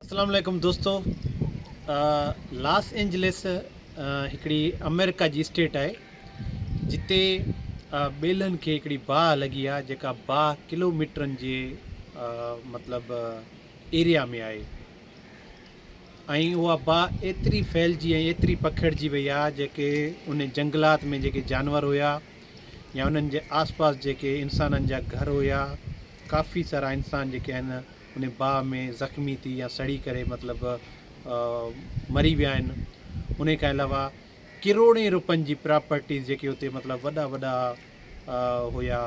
اسلام عليڪم دوستو لاس اينجلس هڪڙي امريڪا جي اسٽيٽ آهي جتي ٻيلن کي هڪڙي باهه لڳي آهي جيڪا باهه ڪلو ميٽرن جي مطلب ايريا ۾ آهي ۽ اها باهه ايتري ڦهلجي ۽ ايتري پکڙجي وئي آهي جيڪي ان جنگلات ۾ جيڪي جانور هيا يا انهن جي آس پاس جيڪي انسانن جا گهر هيا ڪافي سارا انسان جيڪي آهن ان باهه ۾ زخمي ٿي يا سڙي ڪري مطلب مري ويا آهن ان کان علاوه ڪروڙين روپين جي پراپرٽيز جيڪي اتي مطلب وڏا وڏا هيا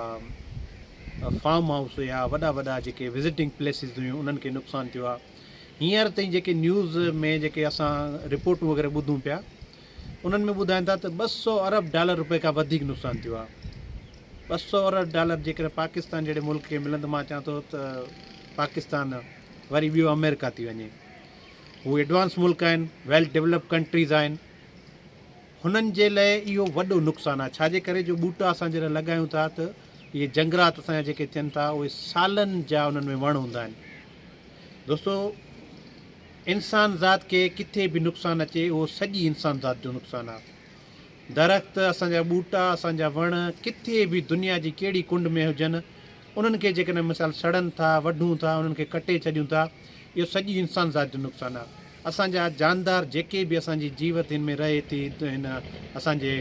فارم هائوس هيا وڏا وڏا جيڪي وزٽنگ پليسز هيون انهن کي نقصان ٿيو آهي هينئر تائين جيڪي نيوز ۾ جيڪي اسان رپورٽون وغيره ٻڌون پيا انهن ۾ ٻڌائين ٿا ته ٻه سؤ ارب ڊالر روپئي کان وڌيڪ نقصان ٿيو آهي، ٻه سؤ ارب ڊالر جيڪڏهن پاڪستان جهڙي ملڪ کي ملن ته مان چوان ٿو ته پاڪستان وري ٻيو آمريڪا ٿي وڃي، هو ايڊوانس ملڪ آهن، ويل ڊولپڊ ڪنٽريز آهن، هنن جي لاء اهو وڏو نقصان آهي، ڇا جي ڪري جو ٻوٽا اسان جڏهن لڳايون ٿا ته اهي جنگرات اسان جا جيڪي ٿين ٿا اهي سالن جا انهن ۾ وڻ هوندا آهن دوستو. انسان ذات کي ڪٿي به نقصان اچي اهو سڄي انسان ذات جو نقصان آهي. درخت، اسان جا ٻوٽا، اسان جا وڻ ڪٿي به دنيا جي ڪهڙي ڪنڊ ۾ هجن انهن کي جيڪڏهن مثال سڙن ٿا، وڍون ٿا، انهن کي ڪٽي ڇڏيون ٿا اهو سڄي انسان ذات جو نقصان آهي. اسان جا جاندار جيڪي به اسان جي جيوت هن ۾ رهي ٿي هن اسان جي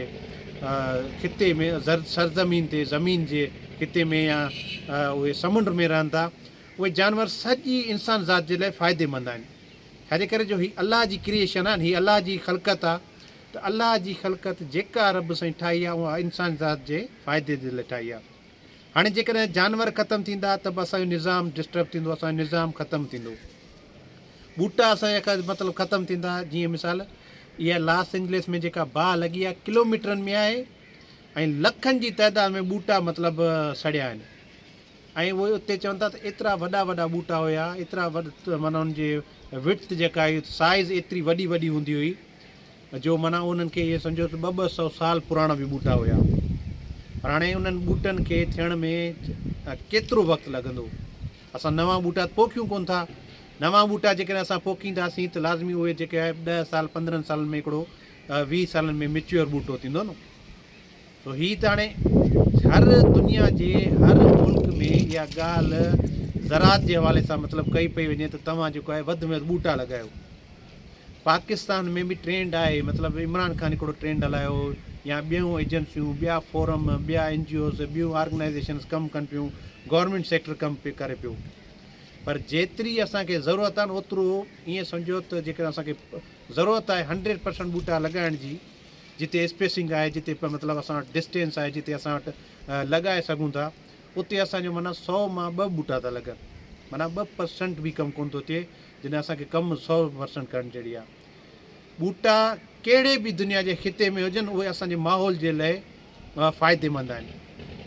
خطي ۾ سرزمين تي زمين جي خطي ۾ يا اهي سمنڊ ۾ رهن ٿا اهي جانور سڄي انسان ذات جي لاء فائديمند آهن ڇاجي ڪري جو هي الله جي ڪريئيشن آهن هي الله جي خلقت آ ته الله جي خلقت جيڪا رب سائين ٺاهي آ اها انسان ذات جي فائدي جي لاء ٺاهي آ هاڻي جيڪڏهن جانور ختم ٿيندا ته به اسان جو نظام ڊسٽرب ٿيندو اسان جو نظام ختم ٿيندو ٻوٽا اسان جا مطلب ختم ٿيندا جيئن مثال اها لاس انجلس ۾ جيڪا باهه لڳي آ ڪلوميٽرن ۾ آهي ۽ لکن جي تعداد ۾ ٻوٽا مطلب سڙيا آهن ۽ اهي اتي چون ٿا ته ايترا وڏا وڏا ٻوٽا هيا ايترا وڏ معنيٰ ان جي وڊٿ جيڪا هئي سائيز ايتري وڏي وڏي هوندي هئي جو معنيٰ انهن کي ايئن سمجهو ته ٻه ٻه سئو سال پراڻا به ٻوٽا هيا پر هاڻي انهن ٻوٽن کي ٿيڻ ۾ ڪيترو وقت لڳندو اسان نوان ٻوٽا ته پوکيون ڪون ٿا نوان ٻوٽا جيڪڏهن اسان پوکينداسين ته لازمي اهي جيڪي آهي ڏهه سال پندرهن سالن ۾ هڪڙو ويهه سالن ۾ ميچيور ٻوٽو ٿيندو نه سو هي ته هاڻي هر دنيا جي هر ملڪ ۾ اها ڳالهه زراعت جي حوالي سان مطلب ڪئي پئي وڃي ته توهان جيڪو آهي وڌ ۾ وڌ ٻوٽا لڳايو پاڪستان ۾ به ٽرينڊ آهي مطلب عمران خان هڪڙو ٽرينڊ هلايو يا ٻيون ايجنسيون ٻيا فورم ٻيا اين جي اوز ٻيون آرگنائزيشنس ڪم ڪن پيون گورنمينٽ سيڪٽر ڪم پي ڪري پيو پر جيتري اسانکي ضرورت آهي اوترو ائين سمجهو ته جيڪڏهن اسانکي ضرورت آهي هنڊريڊ پرسنٽ ٻوٽا لڳائڻ جي جتي اسپيسنگ آهي جتي مطلب اسان وٽ ڊسٽينس آهي جتي اسان وٽ لڳائي سگهون ٿا اتي اسان جو معنيٰ سؤ مان ٻه ٻوٽا ٿا لڳن معنيٰ ٻه پرسنٽ به ڪم ڪون ٿو ٿئي جڏهن اسان کي ڪم سؤ پرسنٽ ڪرڻ جهڙي آهي ٻوٽا ڪهڙي به دنيا جي خطي ۾ هجن اهي اسان جي ماحول جي لئي فائديمند آهن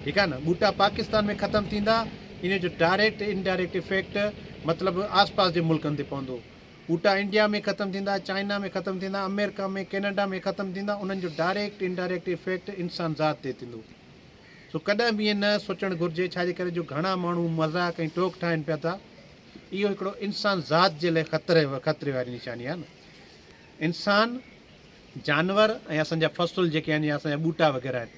ٺيڪ آهي نه ٻوٽا پاڪستان ۾ ختم ٿيندا ان جو ڊائريڪٽ انڊائريڪٽ افيڪٽ مطلب آس پاس جي ملڪن تي پوندو ٻوٽا انڊيا ۾ ختم ٿيندا، چائنا ۾ ختم ٿيندا، آمريڪا ۾ ڪينيڊا ۾ ختم ٿيندا، انهن جو ڊائريڪٽ انڊائريڪٽ افيڪٽ انسان ذات تي ٿيندو. سو ڪڏهن به ائين نه سوچڻ گهرجي ڇا جي ڪري جو گهڻا ماڻهو مذاق ۽ ٽوڪ ٺاهين پيا ٿا. اهو هڪڙو انسان ذات جي لاء خطري خطري واري نشاني آهي نه. انسان، جانور ۽ اسان جا فصل جيڪي آهن يا اسان جا ٻوٽا وغيره آهن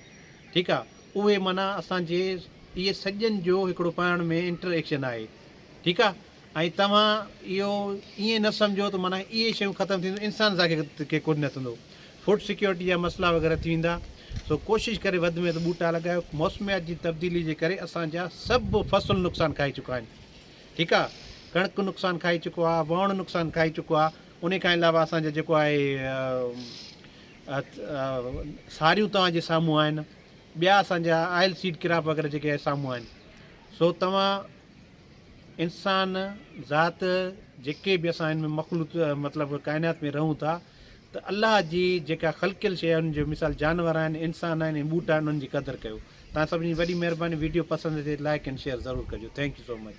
ٺيڪ آهي اهي معنيٰ اسان جي اهي سڄن جو هڪڙو پاڻ ۾ انٽر ايڪشن آهي ٺيڪ آهي. ۽ توهان اهو ائين نه سمجهو ته معنيٰ اهي شيون ختم ٿينديون انسان سان ڪي ڪو نه ٿيندو فوڊ سيڪيورٽي جا مسئلا وغيره ٿي ويندا سو ڪوشش ڪري وڌ ۾ وڌ ٻوٽا لڳايو موسميات جي تبديلي جي ڪري اسان جا سڀ فصل نقصان کائي چڪا آهن ٺيڪ آهي ڪڻڪ نقصان کائي چڪو آهي وهڻ نقصان کائي چڪو آهي ان کان علاوه اسان جا جيڪو آهي ساريون توهان جي سامهون آهن ٻيا اسان جا آئل سيڊ ڪراپ وغيره جيڪي سامهون آهن سو توهان انسان ذات جيڪي به اسان هن مخلوط مطلب ڪائنات ۾ رهون ٿا ته الله جي جيڪا خلقيل شيء آهن جو مثال جانور آهن انسان آهن ۽ ٻوٽا آهن انهن جي قدر ڪيو تان سڀني جي وڏي مهرباني ويڊيو پسند اچي لائڪ اينڊ شيئر ضرور ڪجو ٿينڪ يو سو مچ.